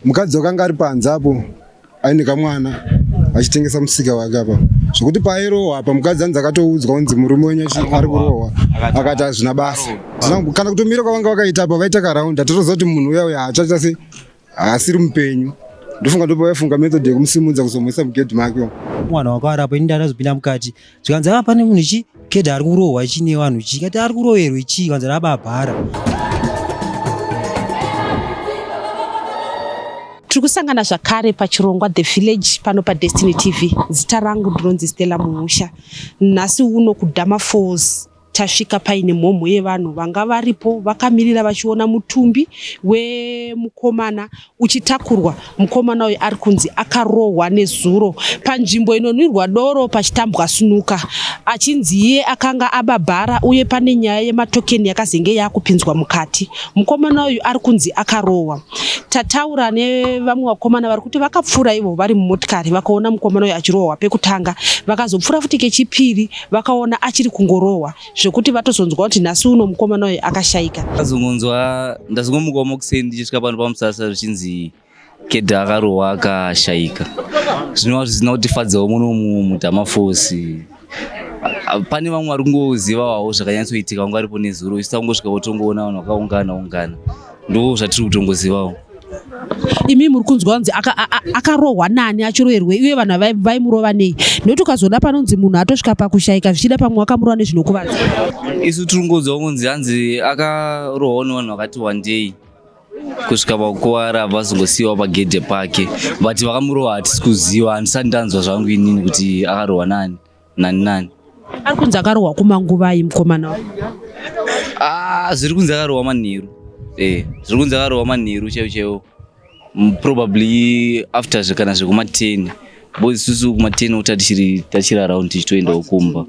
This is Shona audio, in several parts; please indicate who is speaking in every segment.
Speaker 1: Mukadzi wakanga ari panze apo aine kamwana achitengesa musika wake apa zvekuti pairohwa apa mukadzi anzi akatoudzwa kunzi murume wenyu ari kurohwa akati hazvina basa kana kutomira kwavanga vakaita apa vaita karaundi atatoziva kuti munhu uya uya hachaita se haasiri mupenyu ndofunga ndopavaifunga method yekumusimudza kuzomuisa mugedhi make mwana wako ari apo
Speaker 2: ini ndandazopinda mukati zvikanzi apa ah, pane munhu chi kedha ari kurohwa chi nevanhu chi kati ari kuroverwa chi kanzi rababhara
Speaker 3: tiri kusangana zvakare pachirongwa the village pano padestiny tv zita rangu ndinonzi stella mumusha nhasi uno kudama falls Tasvika paine mhomho yevanhu vanga varipo vakamirira vachiona mutumbi wemukomana uchitakurwa. Mukomana uyu ari kunzi akarohwa nezuro panzvimbo inonwirwa doro pachitambwa sunuka achinzi iye akanga ababhara uye pane nyaya yematokeni yakazenge yakupinzwa mukati. Mukomana uyu ari kunzi akarohwa. Tataura nevamwe vakomana vari kuti vakapfuura ivo vari mumotikari vakaona mukomana uyu achirohwa pekutanga vakazopfuura futi kechipiri vakaona achiri kungorohwa zvekuti vatozonzwa kuti nhasi uno mukomana uyu akashaika ndazongonzwa
Speaker 4: ndazongomukawo mokuseni ndichisvika pano pamusasa zvichinzi kedha akarohwa akashaika zvinova zvisina kutifadzawo muno mudhamafosi pane vamwe vari kungozivawawo zvakanyatsoitika vanga varipo nezuro isita kungosvika votongoona vanhu vakaungana ungana Ndoo zvatiri kutongozivawo.
Speaker 3: imi muri kunzwa kunzi akarohwa nani achiroerwei uye vanhu vaimurova nei nekuti ukazoda panonzi munhu atosvika pakushayika zvichida pamwe wakamurova nezvinokuvadza isu tiri
Speaker 4: kungonzwa kunzi hanzi akarohwa nevanhu vakati wandei kusvika pakukuvara abva azongosiyiwa pagedhe pake but vakamurova hatisi kuziva handisati ndanzwa zvangu inini kuti akarohwa nani nani nani
Speaker 3: ari kunzi akarohwa kumanguvai mukomana wa ah
Speaker 4: zviri kunzi akarohwa manheru eh zviri kunzi akarohwa manheru chaiwo chaiwo Mm, probably after zve kana zvekuma 10 boys isusu kuma 10 uta tichiri tachiri around tichitoendawo kumba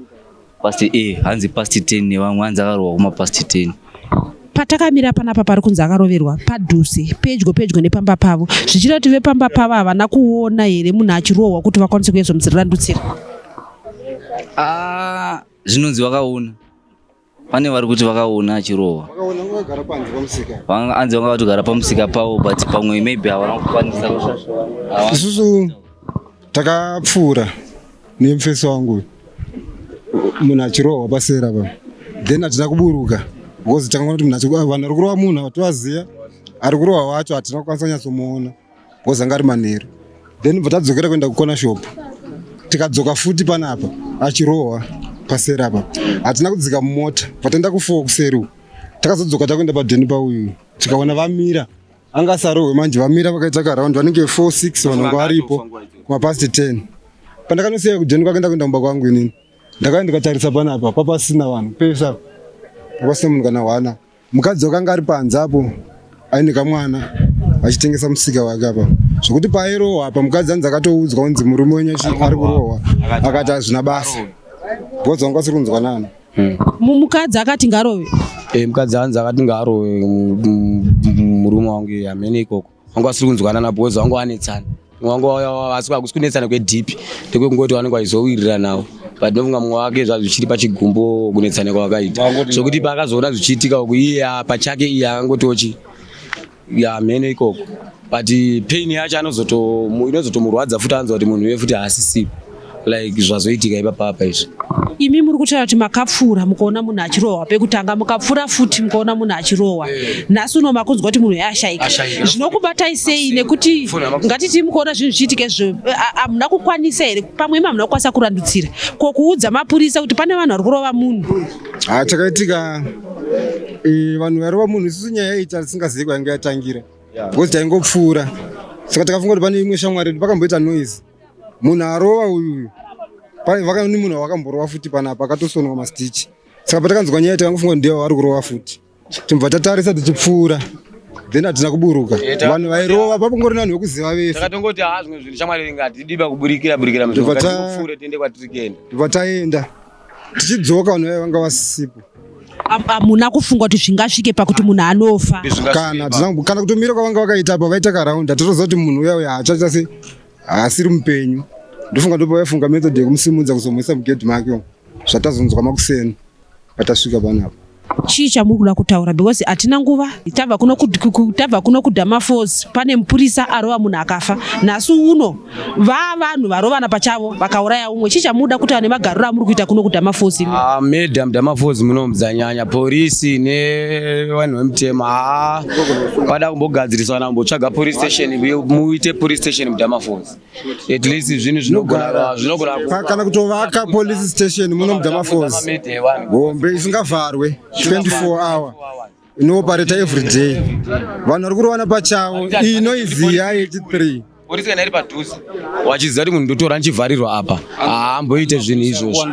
Speaker 4: past eh hanzi past 10 nevamwe hanzi akarohwa kuma past 10 patakamira
Speaker 3: panapa pari kunzi akaroverwa padhuze pedyo pedyo nepamba pavo zvichida kuti vepamba pavo havana kuona here munhu achirohwa kuti vakwanise kuedza mudzirirandutsira ah,
Speaker 4: zvinonzi vakaona pane vari kuti vakaona achirohwa anzi vanga vatogara pamusika pavo but pamwe maybe havana kukwanisa isusu
Speaker 1: takapfuura nemfesi wangu munhu achirohwa pasera pa then hatina kuburuka because tanga kuti munhu vanhu vari kurohwa munhu vatovaziva ari kurohwa wacho hatina kukwanisa kunyatsomuona because anga ari manheru then bva tadzokera kuenda kukona shop tikadzoka futi panapa achirohwa pasera pa hatina kudzika mumota vataenda kufoo kuseri takazodzoka takuenda padheni pauyu tikaona vamira anga sarohwe manje vamira vakaita karound vanenge 46 vanongo varipo kumapast 10 pandakanosiya kujeni kwake ndakuenda kumba kwangu inini ndakauya ndikatarisa panapa papasina vanhu pese apo papasina munhu kana hwana mukadzi wakanga ari panze apo aine kamwana achitengesa musika wake apa zvekuti paairohwa apa mukadzi anzi akatoudzwa kunzi murume wenyu ari kurohwa akati hazvina basa bhozi vanga vasiri kunzwanana mm. mukadzi
Speaker 3: akati ngarove e, mukadzi anzi
Speaker 2: akati ngarove murume wangu iye amene ikoko wangu asiri kunzwana nabozi wangu anetsana wangu asi akusi kunetsana kwedhipi ndekwekungoti wanenge waizowiriranawo but ndofunga mumwe wake zvazvichiri pachigumbo kunetsana kwawakaita zvekuti paakazoona zvichiitika uku iye pachake iye akangotiwo chii ya mheno ikoko but pain yacho inozotomurwadza futi anzwa kuti munhu uye futi haasisipo like zvazoitika ipapapa izvi imi muri kutaura
Speaker 3: kuti makapfuura mukaona munhu achirohwa pekutanga mukapfuura futi mukaona munhu achirohwa eh. nhasi uno makunzwa kuti munhu yaashaika zvinokubatai sei nekuti ngatiti mukaona zvinhu zvichiitika izvo hamuna kukwanisa here pamwe imi hamuna kukwanisa kurandutsira ko kuudza mapurisa kuti pane vanhu vari kurova munhu ha chakaitika
Speaker 1: e, vanhu varova munhu isusu nyaya iyi tisingazivi kwainge yatangira because taingopfuura saka takafunga kuti pane imwe shamwari yedu pakamboita noise munhu arova uyu vakaoni munhu wakamborova futi panapa akatosonwa mastichi saka patakanzwa nyaya takangofunga kuti ndiye waari kurova futi timbva tatarisa tichipfuura then hatina kuburuka vanhu vairova papongori nanhu vekuziva vese takatongoti haa zvimwe zvinhu
Speaker 2: shamwari ringa hatidiba kuburikira burikira mupfuure tiende kwatiri kuenda ndibva taenda
Speaker 1: tichidzoka vanhu vaiva vanga vasipo hamuna
Speaker 3: kufunga kuti zvingasvike pakuti munhu anofa kana kana
Speaker 1: kutomira kwavanga vakaita apa vaita karaund hatatoziva kuti munhu uya uya hachaita se haasiri mupenyu ndofunga ndopavaifunga method yekumusimudza kuzomhwisa mugedhi make zvatazonzwa makuseni patasvika panapa
Speaker 3: chii chamuri kuda kutaura because hatina nguva tabva kuno tabva kuno kudama force pane mupurisa arova munhu akafa nhasi uno vaa vanhu varovana pachavo vakauraya umwe chii chamuda kutaura nemagariro amuri kuita kuno kudama force ah, madam dama
Speaker 2: force munomudzanyanya porisi nevanhu vemutema haa ah, pada kumbogadzirisana kumbotsvaga police station muite police station mudama force at least zvinhu zvinogara zvinogara kana kutovaka
Speaker 1: police station muno mudhamafozi hombe isingavharwe 24 hour inoopareta every day vanhu vari kurovana pachavo iyi noizi ya 83 polisi kana iri padhuze
Speaker 2: wachiziva kuti munhu ndotora ndichivharirwa apa haamboite zvinhu izvozvo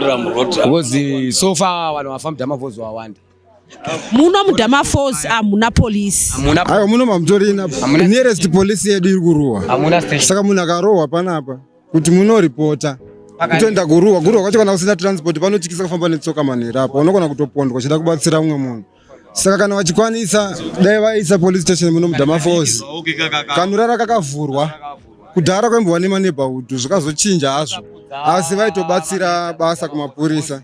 Speaker 2: because so far vanhu vafamba mudhamafozi wawanda muno
Speaker 3: mudama falls hamuna polisi aiwa muno mamutorina
Speaker 1: nearest polisi yedu iri kurohwa saka munhu akarohwa panapa kuti munoripota kutoenda kuruwa kuruwa kwacho kana usina transport panotyisa kufamba netsoka manhera apo unogona kutopondwa chida kubatsira umwe munhu saka kana vachikwanisa dai vaisa police station muno mudama falls kanorara kakavhurwa kudhara kwaimbova nemaneighborhood zvikazochinja hazvo asi vaitobatsira basa kumapurisa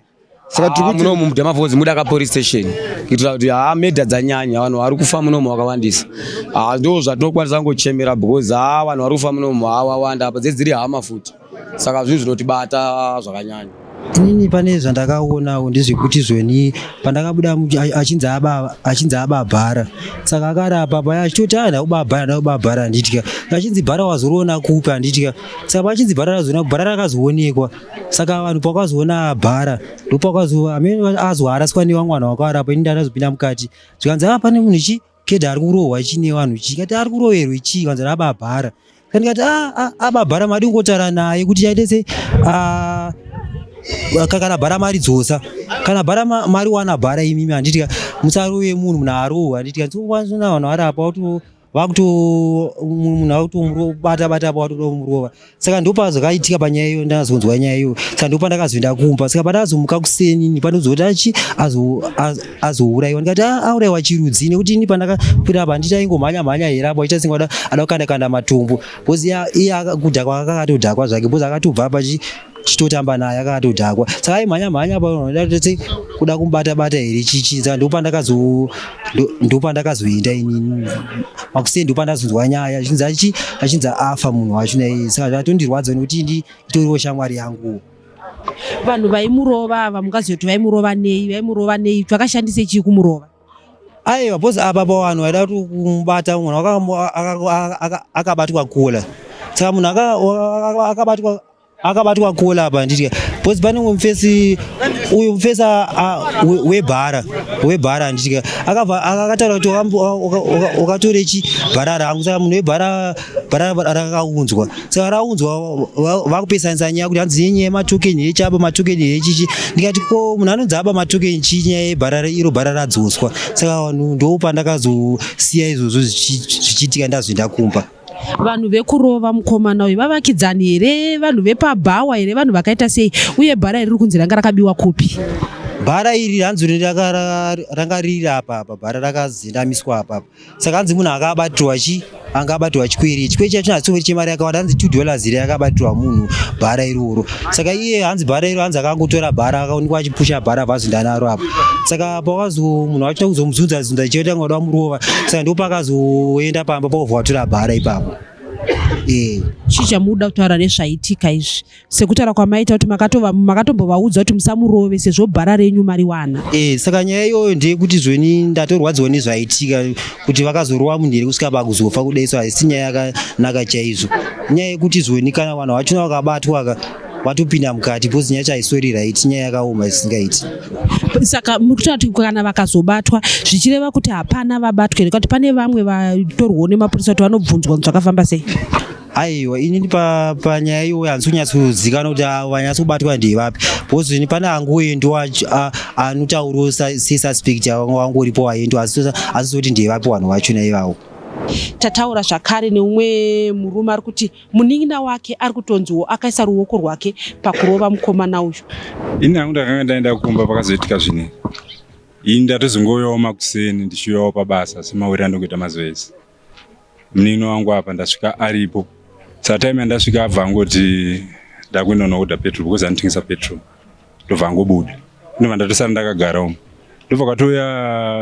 Speaker 1: saka tiri kuti munomu mudamavhozi mudaka
Speaker 2: police station kuitira kuti haa medha dzanyanya vanhu vari kufa munomu vakawandisa haa ndo zvatinokwanisa kungochemera because haa vanhu vari kufa munomu haa wawanda apa dzedziri hama futi saka zvinhu zvinotibata zvakanyanya inini pane
Speaker 5: zvandakaonawo ndezvekuti zveni pandakabuda mu- a- achinzi aba- achinzi ababhara saka akarapa paya achitoti a ndaubabhara ndaubabhara handitya achinzi bhara wazoriona kupi handitya saka paachinzi bhara razoona bhara rakazoonekwa saka vanhu pakazoona bhara ndopakazoa amene azwa araswa newa mwana wakarapa ini ndanazopinda mukati zvikanzi apa ah, pane munhu chi kedha ari kurohwa chi nevanhu chi kati ari kuroverwa chi kanzi raba bhara kandikati ah, ah, aba bhara madi kungotara naye kuti chaite se kana bhara mari dzosa kana bhara mari wana bhara imimi handiti musarove munhu munhu arohwa handiti kanzi vanhu varapa vakuti munhu akuti umurobata bata apa watoda kumurova saka ndopazvakaitika panyaya iyo ndakazonzwa nyaya iyo saka ndopa ndakazoenda kumba saka pandazomuka kuseni ni panozoti achi azourayiwa ndikati ah, aurayiwa chirudzi nekuti ini pandakakwira apa handiti aingomhanya mhanya here apo aita senge ada kukanda kanda matumbu bcause iya kudhakwa akakatodhakwa zvake bcause akatobva apa chitotamba naye akatodhakwa saka aimhanya mhanya panoda kuti kuda kumubata bata here chichinza ndopandakazo ndopandakazoenda inini makusei ndopandazonzwa nyaya achinzi achi achinzi afa munhu wacho naye saka zvatondirwadza nekuti ndi itoriwo shamwari yangu vanhu
Speaker 3: vaimurova ava mungaziva kuti vaimurova nei vaimurova nei twakashandisa chii kumurova aiwa
Speaker 5: bcause apa pa vanhu vaida kuti kumubata munhu akabatwa kula saka munhu akabatwa akabatwa kola apa nditya because pane umwe mufesi uyu mufesi webhara webhara nditya akabva akataura kuti ukatore chi bhara rangu saka munhu webhara bhara rakaunzwa saka raunzwa vakupesanisa nyaya kuti hanzi yenyaya yematoken hechi apa matoken hechichi ndikati ko munhu anonzi aba matoken chii nyaya yebhara iro bhara radzoswa saka vanhu ndopandakazosiya izvozvo zvichiitika ndazoenda kumba vanhu vekurova
Speaker 3: mukomana uyu vavakidzani here vanhu vepabhawa here vanhu vakaita sei uye bhara iri kunzi ranga rakabiwa kupi bhara iri
Speaker 5: hanzi ranga riri apa apa bhara rakazinamiswa apa apa saka hanzi munhu anga abatirwa chi anga abatirwa chikwiri chikwiri chacho chinatsongori chemari yakawanda hanzi two dollars iri yakabatirwa munhu bhara iroro saka iye hanzi bhara iro hanzi akangotora bhara akaonekwa achipusha bhara vazondanaro apa saka apa wakazo munhu wacho kuzomuzunza zunza chete anga wada murova saka ndipo pakazoenda pamba povhatura bhara ipapo eh.
Speaker 3: chii chamuda kutaura nezvaitika izvi sekutaura kwamaita kuti makatombovaudza kuti musamurove sezvo bhara renyu mariwana e saka nyaya iyoyo
Speaker 5: ndeyekuti zvoni ndatorwadziwa nezvaitika kuti vakazorova munhu here kusvika pakuzofa kudai so haisi nyaya yakanaka chaizvo nyaya yekuti zvoni kana vanhu vachona vakabatwa ka vatopinda mukati because nyaya chaisweri right nyaya yakaoma isingaiti saka
Speaker 3: muri kutaura kuti kana vakazobatwa zvichireva kuti hapana vabatwa here kuti pane vamwe vatorwawo nemapurisa kuti vanobvunzwa zvakafamba sei aiwa
Speaker 5: inini panyaya pa iyoyo handisi kunyatsozikanwa kuti ah, vanyatsobatwa ndevapi because ini pane angoendwa ah, anotauriwo sesuspect wangu uripo waendwa asi zoti ndevapi vanhu vacho naivawo tataura
Speaker 3: zvakare neumwe murume ari kuti Munin'ina wake ari kutonziwo akaisa ruoko rwake pakurova mukomana uyu. Ini hangu ndakanga
Speaker 6: ndaenda kumba pakazoitika zvine ini ndatozongoyawo makuseni ndichiuyawo pabasa semawiri andokuita mazuva ese munin'ina wangu apa ndasvika aripo satime yandasvika abva angoti ndakuenda unokuda petrol because anotengesa petrol ndobva angobuda ndobva ndatosara ndakagara umu ndobva katouya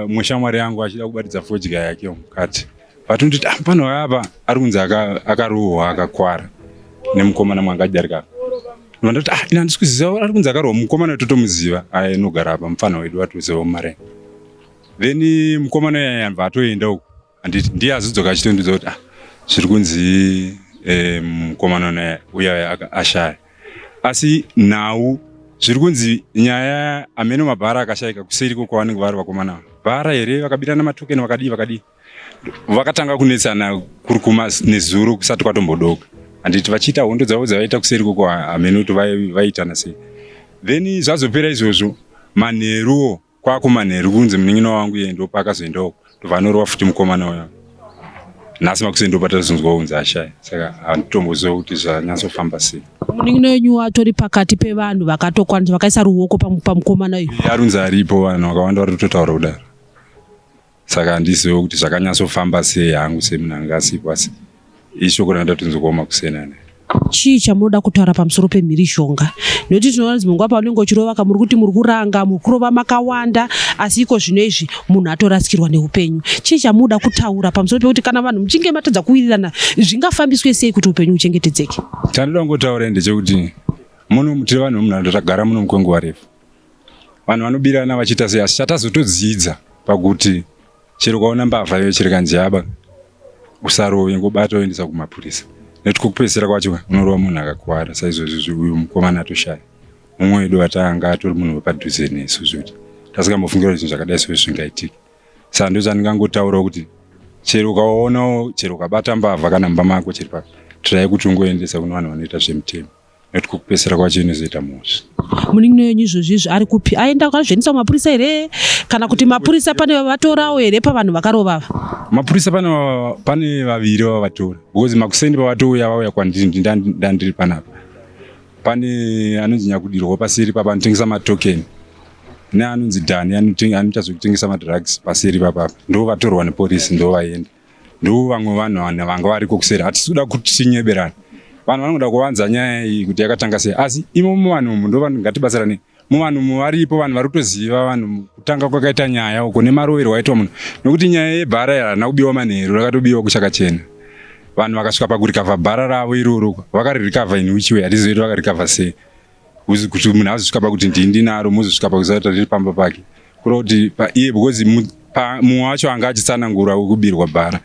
Speaker 6: mwe shamwari yangu achida kubatidza fodya yake mukati but unototi ah, pano apa ari kunzi akarohwa akakwara nemukomana mwangajarika vandoti ah ina handisi kuziva ari kunzi akarohwa mukomana totomuziva aye nogara apa mupfana wedu atoziva mare then mukomana yaya yambva atoenda uku handiti ndiye azodzoka achitondiudza kuti ah zviri kunzi eh, mukomana naye uya ashaya asi nhau zviri kunzi nyaya ameno mabhara akashaika kuseri ko kwavanenge vari vakomana vara here vakabirana matokeni vakadii vakadii Vakatanga kunetsana kuri kuma nezuro kusati kwatombodoka. Handiti vachiita hondo dzavo dzavaita kuseri koko hameno kuti vaiitana sei. Then zvazopera izvozvo manheruwo kwakumanheru kunzi munin'ina wangu iye ndo paakazoendawo tobva anorova futi mukomana uya nhasi makuseni ndo patazonzwa unzi ashaya saka handitomboziva kuti zvanyatsofamba sei munin'ina wenyu
Speaker 3: atori pakati pevanhu vakatokwanisa vakaisa ruoko pamukomana uyu arunzi aripo vanhu
Speaker 6: vakawanda vari kutotaura kudaro saka handizive kuti zvakanyatsofamba sei hangu semunhu anga asipo asi ishoko randatonzi kuoma kusena ne chii chamunoda
Speaker 3: kutaura pamusoro pemhirizhonga nekuti tinoona kuti munguva paunenge uchirova ka muri kuti muri kuranga muri kurova makawanda asi iko zvino izvi munhu atorasikirwa neupenyu chii chamunoda kutaura pamusoro pekuti kana vanhu muchinge matadza kuwirirana zvingafambiswe sei kuti upenyu huchengetedzeke chandoda kungotaura
Speaker 6: ndechekuti muno mutiri vanhu vemunharaunda tagara muno mukwenguva refu vanhu vanobirana vachiita sei asi chatazotodzidza pakuti chero ukaona mbavha iyo chiri kanjaba usarove ngobata oendesa kumapurisa nekuti kokupedzisira kwacho unorova munhu akakwara saizvozvi uyu mukomana atoshaya mumwe wedu vatanga atori munhu wepadhuze nesu zvekuti tasingambofungira kuti zvinhu zvakadai soo zvingaitike saka ndo zvandingangotaurawo kuti chero ukaonawo chero ukabata mbavha kana mumba mako chiri pa tirai kuti ungoendesa kune vanhu vanoita zvemitemo nekuti kukupesera kwacho inozoita mhosva munin'ina wenyu
Speaker 3: izvozvi izvi ari kupi aenda akazviendesa kumapurisa here kana kuti mapurisa pane vavatorawo here pavanhu vakarova ava mapurisa pane
Speaker 6: pane vaviri vavatora because makuseni pavatouya vauya kwandiri ndandiri panapa pane anonzi nyakudirwa paseri papa anotengesa matokeni neanonzi dhani anoita zvekutengesa madrugs paseri papapa ndo vatorwa neporisi ndo vaenda Ndoo vamwe vanhu vana vanga variko kuseri hatisi kuda kuti tinyeberane vanhu vanoda kuvanza nyaya iyi kuti yakatanga sei asi imo muvanhu umu ndo vanhu ngatibatsirane muvanhu umu varipo vanhu vari kutoziva vanhu kutanga kwakaita nyaya uko nemaroverwo aitwa munhu nokuti nyaya yebhara iri harina kubiwa manheru rakatobiwa kuchakachena vanhu vakasvika pakurikavha bhara ravo iroro vakaririkavha in which way hatizivi kuti vakaririkavha sei kuti munhu azosvika pakuti ndii ndinaro mozosvika pakuzata riri pamba pake kureva kuti iye because mumwe wacho anga achitsanangura wekubirwa bhara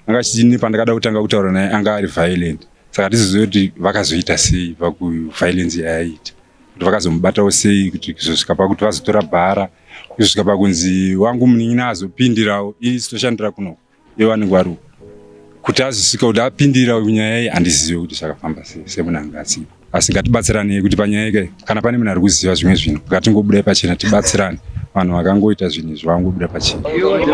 Speaker 6: anga achitini pandakada kutanga kutaura naye anga ari violent saka tizoziva kuti vakazoita sei pakuviolence yaaita kuti vakazomubatawo sei kuti kuzosvika pakuti vazotora bhara kuzosvika pakunzi wangu munin'ina azopindirawo ini sitoshandira kunoko Yowani Gwaru kuti azosvika kuti apindira nyaya iyi handizive kuti zvakafamba sei semunanga asipo asi ngatibatsiranei kuti panyaya ika kana pane munhu ari kuziva zvimwe zvinhu ngatingobudai pachena tibatsirane vanhu vakangoita zvinhu izvi vangobuda pachena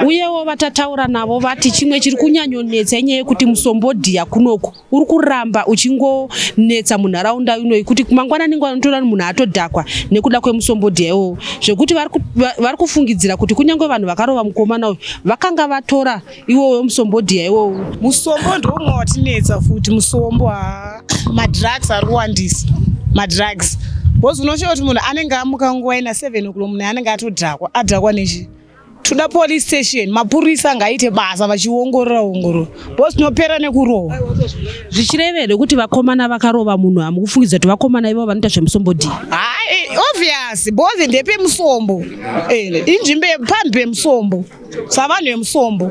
Speaker 6: uyewo
Speaker 3: vatataura navo vati chimwe chiri kunyanyonetsa inyaya yekuti musombodhiya kunoku uri kuramba uchingonetsa munharaunda inoyi kuti mangwanani ngwana unotoona kuti munhu atodhakwa nekuda kwemusombodhi yaiwowo zvekuti vari kufungidzira kuti kunyange vanhu vakarova mukomana uyu vakanga vatora iwowo wemusombodhi yaiwowo musombo ndoumwe
Speaker 7: watinetsa futi musombo haa madrugs ari kuwandisa madrugs bcause unoshaa kuti munhu anenge amuka nguva ina seven oklo munhu anenge atodhakwa adhakwa nechii toda police station mapurisa ngaite basa vachiongorora ongorora bcause tinopera nekurova zvichirevere
Speaker 3: kuti vakomana vakarova munhu hamukufungidza kuti vakomana ivo vanoita zvemusombodii obvious
Speaker 7: bcause ndepemusombo eh, inzvimbo pambi pemusombo savanhu vemusombo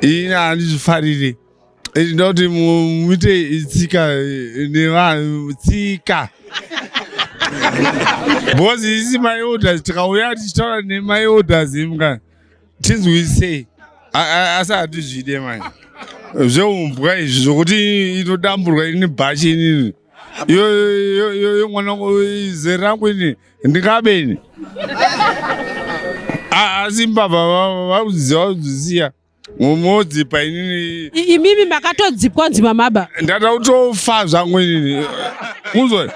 Speaker 8: ini handizvifariri ndoti muite tsika nevanhu tsika bcause isi my orders tikauya tichitaura nemay orders imka tinzwisei asi hatizvide mani zveumbwa izvi zvokuti inodamburwa ini bhachi inini yo mwana wangu zera rangu ini ndingabe ini asi mbavha vaudziwa udzisiya modzipa inini imimi makatodzipwa
Speaker 3: nzima maba ndada kutofa
Speaker 8: zvangu inini muzwa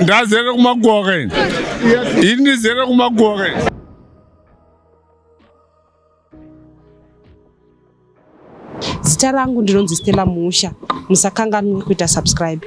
Speaker 8: ndazere kumakuwa kaini ini ndizere kumakuwa kaini
Speaker 3: zita rangu ndinonzi stela musha musakanganwe kuita subscribe